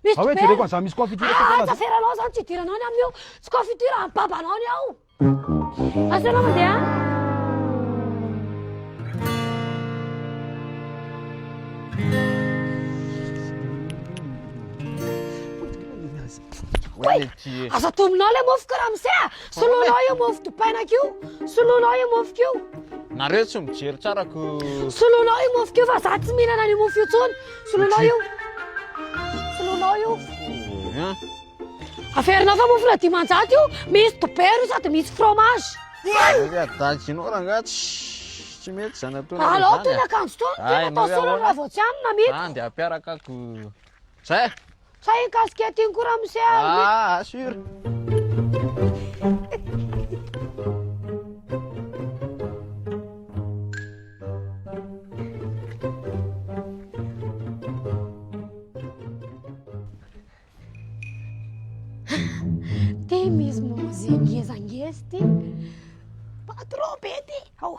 Misy Zah hoe jereko an'izany misy confiture aty foana zany. Asaranao zany tsy hidiranao any aminy eo. Tsy confiture amin'ny babanao ny ao. Asaranao mandeha any. Aza atominao le mofo ko ramose a! Soloinao io mofo dipainako io! Soloinao io mofo io! Nareo tsy mijery tsara ko. Soloinao io mofo io fa za tsy mihinana an'io mofo io tsony! Solonao io. Solonao io. Averinao fa mofona dimanjato io, misy dobera io sady misy fromage. Nga daginao rangah tsy tsy mety zany atao. Alao tony akanjo tony, tena atao solon raha vao tsy hanina mito. Andy ampiaraka ko. Zay. Sa iny casquette iny koa ramose a? Ah, assure. Ty misy mozika ngezangeza ty. Patron be ty. Ao.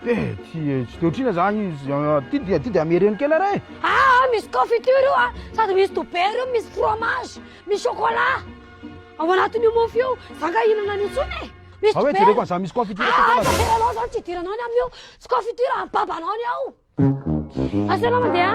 Tsy tsy de otrina zany izy ty dia ty dia amereno kely re ah misy confiture io a sady misy dobera io misy fromage misy chocolat ao anatin'io mofo io za nga hinana an'io tsony e misy dobera jereko an'zany misy confiture ah aza aseranao zany tsy hidiranao ny amin'io tsy confiture amin'ny babanao ny ao asa anao mandeha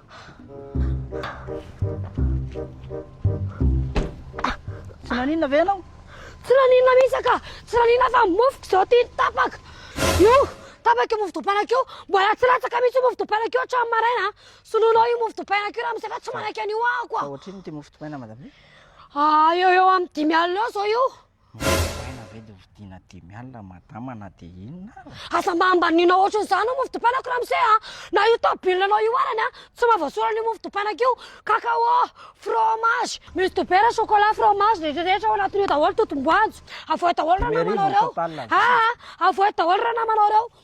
Tsy naninona ve ianao? Tsy naninona mihitsy ka! Tsy naninona fa mofoko izao ity tapaka! Io! Tapaka io mofo dopainako io! Mbola tsy latsaka mihitsy io mofo dopainako io hatramin'ny maraina a! Soloinao io mofo dopainako io ramose fa tsy manaiky an'io aho koa! Fa ohatrinona ity mofo dopaina madame? Ah, eo eo amin'ny dimy alina eo izao io! Novidiana ve dia hovidiana dimy alina madama na dia inona ary? Aza mba ambaniana ohatran'izany io mofo dipaina ko ramose a! Na io tôbily anao io arany a, tsy mahavasoana an'io mofo dipainako io! Cacao, fromage, misy dobera, chocolat, fromage, rehetra rehetra ao anatin'io daholo, totom-boanjo! Avoay daholo ranamanao reo! Aa! Avoay daholo ranamanao reo!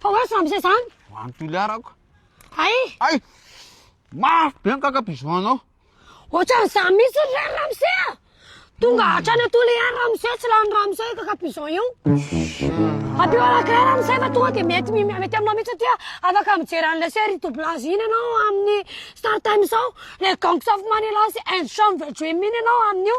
Fa hoe samy izay zany? Ho an'i Toliara ko. Hay! Hay! Mafy be ny kakapizo anao. Ohatran'izany mihitsy ry Ramose a! Tonga hatrany Toliara Ramose, tsy lany Ramose io kakapizo io. Ampio anankiray Ramose fa tonga dia mety mety aminao mihitsy satria afaka mijery an'ilay série doublage iny ianao amin'ny Star Times ao, le Gangs of Manila sy Ensemble Dream iny ianao amin'io.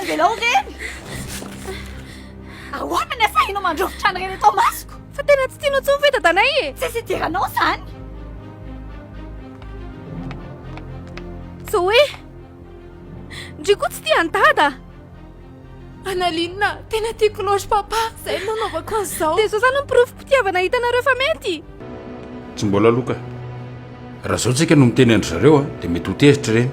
Avelao ireny! Ahoana ny asahinao mandrovitra an'ireny eto amasoko? Fa tena tsy tianao intsony ve dadanay e? Tsisy idiranao izany! Zoé! Ndry koa tsy tia an'i dada! Analina, tena tiako loatra papa, izay no nanaovako an'izao. Dia izao izany ny porofom-pitiavana hitanareo fa mety! Tsy mbola aloha ka. Raha izao tsika no miteny an-dry zareo dia mety ho tezitra ireny.